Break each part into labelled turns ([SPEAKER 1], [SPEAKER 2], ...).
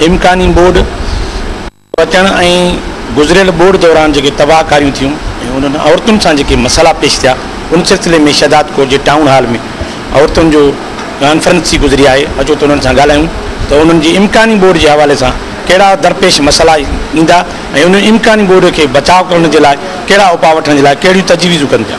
[SPEAKER 1] امڪاني ٻوڏ پچڻ ۽ گذريل ٻوڏ دوران جيڪي تباهڪاريون ٿيون ۽ انهن عورتن سان جيڪي مسئلا پيش ٿيا ان سلسلي ۾ شهداد ڪوٽ جي ٽائون هال ۾ عورتن جو ڪانفرنس ٿي گذري آهي اچو ته انهن سان ڳالهايون ته انهن جي امڪاني ٻوڏ جي حوالي سان ڪهڙا درپيش مسئلا ايندا ۽ انهن امڪاني ٻوڏ کي بچاء ڪرڻ جي لاء ڪهڙا اپاء وٺڻ جي لاء ڪهڙيون تجويزون ڪن پيا.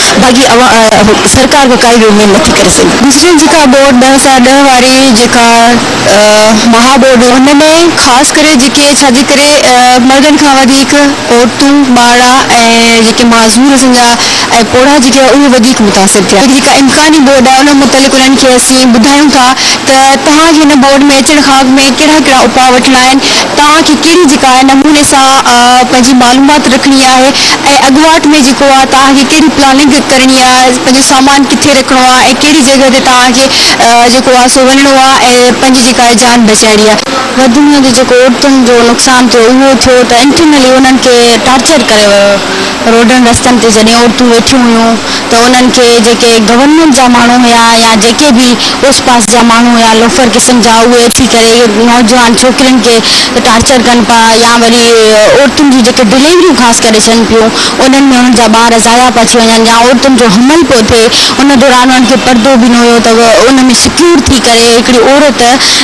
[SPEAKER 2] باقي سرڪار به ڪائي به اميد نٿي ڪري سگهي. گذريل جيڪا ٻوڏ ٻه هزار ڏهه واري جيڪا مها ٻوڏ هئي ان ۾ خاص ڪري جيڪي ڇا جي ڪري مردن کان وڌيڪ عورتون ٻارڙا ۽ جيڪي معذور اسان جا ۽ پوڙها جيڪي هئا اهي وڌيڪ متاثر ٿيا هي جيڪا امڪاني ٻوڏ آهي ان متعلق انهن کي اسين ٻڌايون ٿا ته توهان کي هن ٻوڏ ۾ اچڻ کان اڳ ۾ ڪهڙا ڪهڙا اپاء وٺڻا آهن توهان کي ڪهڙي جيڪا آهي نموني سان پنهنجي معلومات رکڻي آهي ۽ اڳواٽ ۾ جيڪو آ توهان کي ڪهڙي پلاننگ ڪرڻي آ پنهنجو سامان ڪٿي رکڻو آ ۽ ڪهڙي جڳهه تي توهان کي جيڪو آ سو وڃڻو آ ۽ پنهنجي جيڪا آ جان بچائڻي آ. وڌ ۾ وڌ جيڪو عورتن جو نقصان ٿيو اهو ٿيو ته انٽرنلي انهن کي ٽارچر ڪري ويو روڊن رستن تي جڏهن عورتون ويٺيون هيون ته انهن کي جيڪي گورنمينٽ جا ماڻهو هيا يا جيڪي به اوس پاس جا ماڻهو هيا لوفر قسم جا اهي اچي ڪري نوجوان ڇوڪرين کي ٽارچر ڪن پيا يا وري عورتن جون جيڪي ڊليوريون خاص ڪري ٿين پيون انهن ۾ انهن جا ٻار ضايع پيا ٿي وڃن يا عورتن جو حمل پيو ٿئي ان دوران انهن کي پردو به نه هيو ته ان ۾ سڪيور ٿي ڪري هڪڙي عورت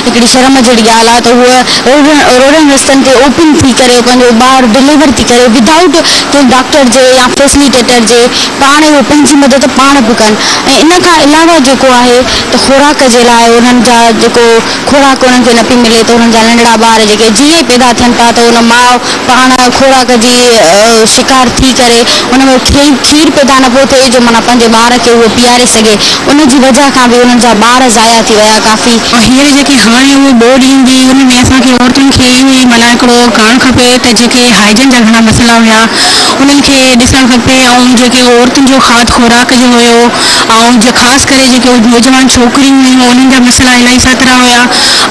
[SPEAKER 2] هڪڙي شرم جهڙي ڳالهه آهي ته هوء روڊن رستن تي اوپن ٿي ڪري پنهنجو ٻار ڊليور ٿي ڪري ودائوٽ ڪنهن ڊاڪٽر جي يا فيسليٽيٽر جي پاڻ اهو پنهنجي مدد پاڻ به ڪن ۽ ان کان علاوه جيڪو آهي ته خوراڪ جي لاء انهن جا جيڪو خوراڪ انهن کي نه پئي ملي ته انهن جا ننڍڙا ٻار جيڪي جيئن ئي پيدا ٿين ٿا ته ان ماء پاڻ خوراڪ جي شڪار ٿي ڪري ان ۾ کين کير پيدا نه پيو ٿئي جو معنيٰ پنهنجي ٻار کي اهو پياري سگهي ان جي وجهه کان به انهن جا ٻار ضايع ٿي ويا ڪافي ۽ هينئر جيڪي هاڻي
[SPEAKER 3] اهي ٻوڏ ايندي ان ۾ اسان کي عورتن کي اهو ئي معنيٰ هڪڙو ڪرڻ کپي ته جيڪي هائجن جا گهڻا مسئلا هيا انهن کي ڏسڻ کپي ۽ جيڪي اهو عورتن جو کاڌ خوراڪ جو هيو ۽ جي خاص ڪري جيڪي اهي نوجوان ڇوڪريون هيون انهن جا مسئلا الاهي ساترا هيا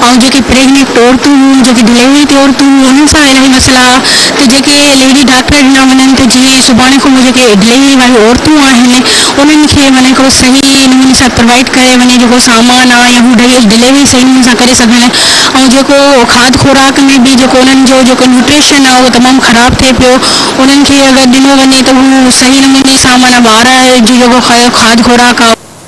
[SPEAKER 3] ۽ جيڪي پريگنيٽ عورتون هيون جيڪي ڊليوري تي عورتون هيون انهن سان الاهي مسئلا هيا ته جيڪي ليڊي ڊاڪٽر ڏنا وڃن ته جيئن سڀاڻي کان پوء جيڪي ڊليوري واريون عورتون آهن انهن کي معنيٰ هڪڙو صحيح نموني سان پروائيڊ ڪري وڃي جيڪو سامان آ يا هو ڊليوري صحيح نموني سان ڪري سگهن ۽ جيڪو کاڌ خوراڪ ۾ به جيڪو انهن جو جيڪو نيوٽريشن آ اهو تمام خراب ٿئي پيو انهن کي اگر ڏنو وڃي ته اهو صحيح نموني سان معنيٰ ٻار جي جيڪو کاڌ خوراڪ آهي.